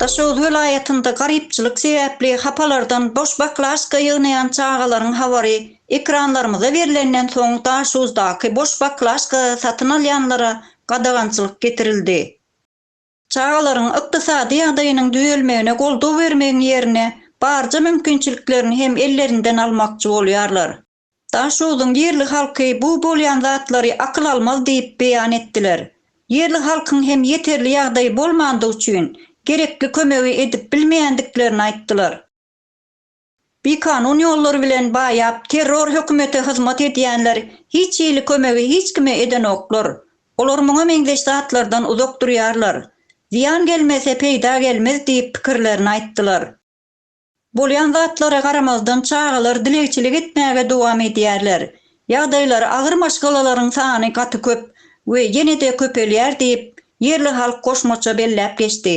Daşoguz welaýatynda garypçylyk sebäpli hapalardan boş baklažka ýygnaýan çagalaryň habary ekranlarymyza berlenden soň Daşoguzdaky boş baklažka satyn alýanlara gadagançylyk getirildi. Çagalaryň ykdysady ýagdaýynyň düzelmegine goldaw bermegiň ýerine barja mümkinçiliklerini hem ellerinden almakçy bolýarlar. Daşogzuň ýerli halky bu bolýan zatlary akyl almaz diýip beýan etdiler. Ýerli halkyň hem ýeterli ýagdaýy bolmandygy üçin, gerekli kömegi edip bilmeýändiklerini aýtdylar. Bikanun ýollar bilen baýap, terror hökümete hyzmat edýänler hiç hili kömegi hiç kime edenoklar. Olar muňa meňzeş zatlardan uzak durýarlar. Zyýan gelmese peýda gelmez diýip pikirlerini aýtdylar. Bolýan zatlara garamazdan çagalar dilegçilik etmäge dowam edýärler. Ýagdaýlary agyr maşgalalaryň sany gaty köp we ýene-de köpelýär diýip, ýerli halk goşmaça belläp geçdi.